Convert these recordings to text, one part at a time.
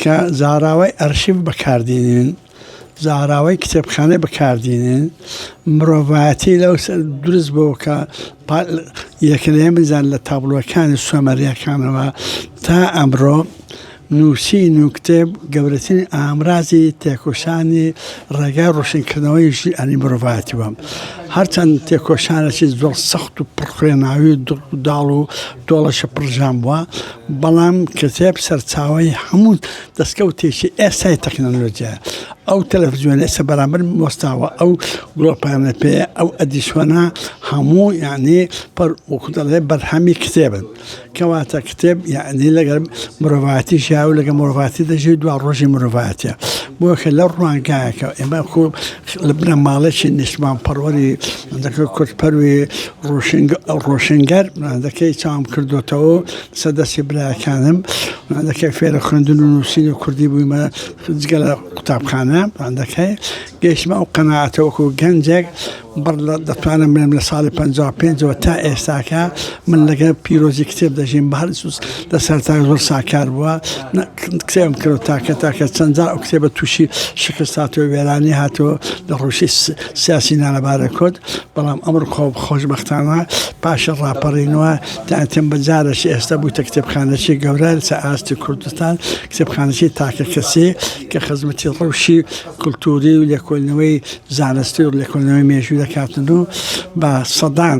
کە زاراوەی ئەرشیڤ بەکاردینین، زاراوەی کتێبخانەی بەکاردینین، مرۆڤایەتی لەو سەر دروست بۆ کە یەکلەیەن بزان لە تابلۆکانی سۆمەریەکانەوە تا ئەمرۆ نووسین و کتێب گەورەترین ئامرازی تێکۆشانی ڕێگای ڕۆشنکردنەوەی ژی ئەنی مرۆڤایەتی بەم هەرچەند تێکۆشانەی زۆر سەخت و پڕخوێناوی و دڵ و داڵ و دۆڵەشە پڕژان بووە بەڵام کتێب سەرچاوەی هەموو دەستکەوتێکی ئێستای تەکنەلۆجیایە. ئەو تەلەفزیۆنە ئێستا بەرامبەر وەستاوە، ئەو گڵۆپانە پێیە، ئەو ئەدیسۆنە هەموو یانی پڕ وەکوو دەڵێ بەرهەمی کتێبن. کەواتە کتێب یانی لەگەڵ مرۆڤایەتی ژیاوە و لەگەڵ مرۆڤایەتی دەژی و دواڕۆژی مرۆڤایەتییە. بۆیە کە لەو ڕوانگایەکەوە ئێمە وەکوو لە بنەماڵەیەکی نیشتمانپەروەری کوردپەروی ڕۆشنگەر چاوم کردۆتەوە سەر دەستی برایەکانم فێرە خوێندن و نووسین و کوردی بوویمە جگە لە قوتابخانە گەیشتمە ئەو قەناعەتە وەکو گەنجێک بڕ لە دەتوانم بڵێم لە ساڵی 55ەوە تا ئێستاکە من لەگەڵ پیرۆزی کتێب دەژیم بە هەڵسوس لە سەرتای زۆر ساکار بووە کتێبم کرد و تاکە تاکە چەند جار ئەو کتێبە تووشی شکست هاتووە وێرانی هاتووە لە ڕوشی سیاسی نانەبارە کۆت بەڵام ئەمر خۆ خۆشببختانە پاشە ڕاپەڕینەوە تاتم بە جارەش ئێستا بووتە کتێبخانەشی گەورە لە ئاستی کوردستان کتێبخانەشی تاکە کەسی کە خزمەتی ڕوشی کللتوری و لێکۆلنەوەی زانستی و لێکۆلنەوەی مێژوو دەکاتن و بە سەدان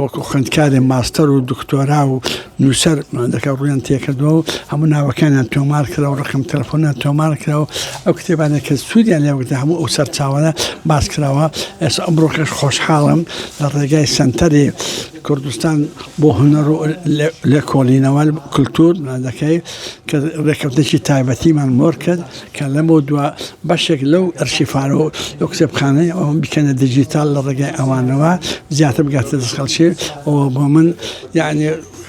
وەکو خوێندکارێ ماستەر و دکتۆرا و نووسەر دەکە ڕویان تێکردەوە و هەموو ناوەکانیان تۆمار کرا و ڕقم تەلفۆنیان تۆمار کراوە ئەو کتێبانێک کە سوودیان لێوەکدا هەموو ئەو سەرچاوانە باس کراوە ئێس ئەمڕۆکەش خۆشحاڵم لە ڕێگای سنتەری کوردستان بۆ هەنەڕ لە کۆڵینەوە کللتور دەکەی کە ڕێککەوتێکی تایبەتیمان مۆر کرد کە لەمەودوا بەشێک لەو ئەرشیفانە و لەو کتێبخانەی ئەوم بکەنە دیجیتال لە ڕێگەی ئەوانەوە زیاتر بگاتە دەست خەڵکی ئەوە بۆ من یعنی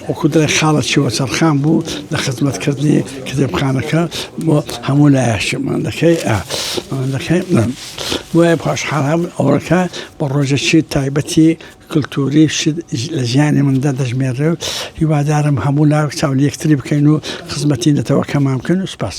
وەکو دڵێ خاڵە چیوە چەرخان بوو لە خزمەتکردنی کتێبخانەکە بۆ هەموو لایەشمان دەکەی دەکەی وایە پاشحاڵام ئەوڕەکە بە ڕۆژەکی تایبەتی کلتوری شت لە ژیانی مندا دەژمێررێ و هیوادارم هەموو لاوک چاو لە یەکتری بکەین و خزمەتی نەتەوەکەمان بکەن و سپاس.